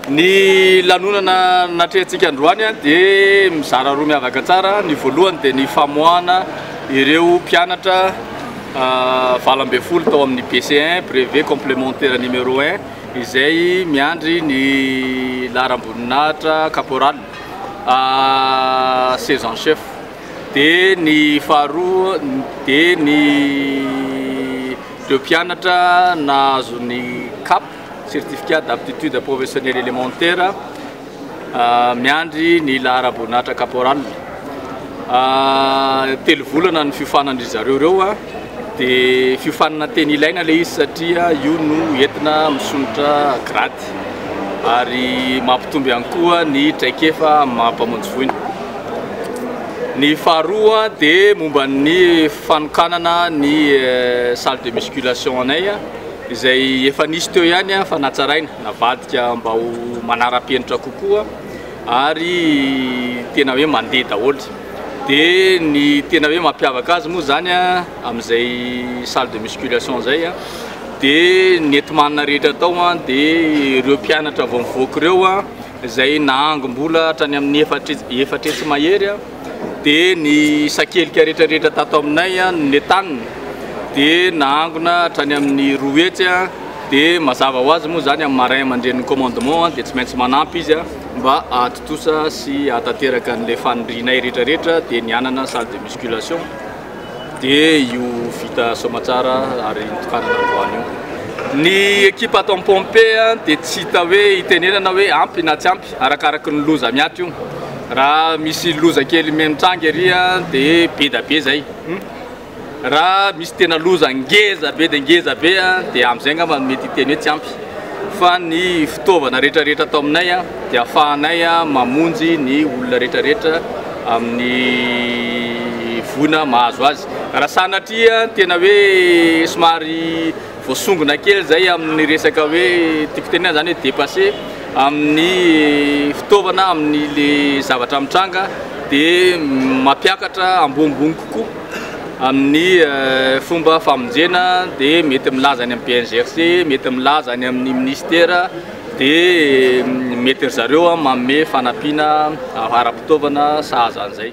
Ny lanonana natrehantsika androany dia mizara roa miavaka tsara. Ny voalohany dia ny famoahana ireo mpianatra valo ambin'ny folo tao amin'ny BC1, brevet complémentaire numéro 1, izay miandry ny laharam-boninahitra caporal seize en chef. Dia ny faharoa dia ny. Ireo mpianatra nahazo ny cap, Certificat d'aptitude professionnelle élémentaire, miandry ny laharaboninahitra caporal. Telo volana ny fiofanan-dry zareo ireo, dia fiofanana tena ilaina ilay izy satria io no entina misolotra grade ary mampitombo ihany koa ny traikefa amin'ny maha mpamonjy voina. Ny faharoa dia momba ny fanokanana ny salle de musculation anay izay efa nisy teo ihany fa natsaraina navadika mba ho manara-penitra kokoa ary tena hoe mandeha daholo dia ny tena hoe mampiavaka azy moa zany amin'izay salle de musculation izay dia ny enti-manana rehetra tao dia ireo mpianatra vao mivoaka ireo izay nahangom-bola hatrany amin'ny efatra hetsy mahery dia ny sakelika rehetrarehetra tato aminay no netanina dia nahangona hatrany amin'ny roa hetsy dia mazava ho azy moa zany amin'ny marin aman-drenin'ny commandement dia tsy maintsy manampy izy mba hahatontosa sy hahatanteraka an'ilay fanindrinay rehetrarehetra dia ny anana salle de musculation Dia io vita soamatsara ary nitokanana androany io. Ny ekipa ato Ampompe dia tsy hita hoe hitenenana hoe ampy na tsy ampy arakaraky ny loza miato io. Raha misy loza kely mitranga ery dia be da be izay. Raha misy tena loza ngeza be dia ngeza be dia amin'izay angamba no mety hiteny hoe tsy ampy. fa ny fitaovana rehetrarehetra ato aminay dia afahanay mamonjy ny olona rehetrarehetra amin'ny voina mahazo azy raha sanatria tena hoe somary voasongona kely zay amin'ny resaka hoe tiako tenena zany hoe dépassé amin'ny fitaovana amin'ny le zavatra mitranga dia mampiakatra ambonimbony kokoa Amin'ny fomba famonjena dia mety milaza any amin'ny BNGRC, mety milaza any amin'ny Ministera dia mety ry zareo manome fanampiana ara-pitaovana sahaza an'izay.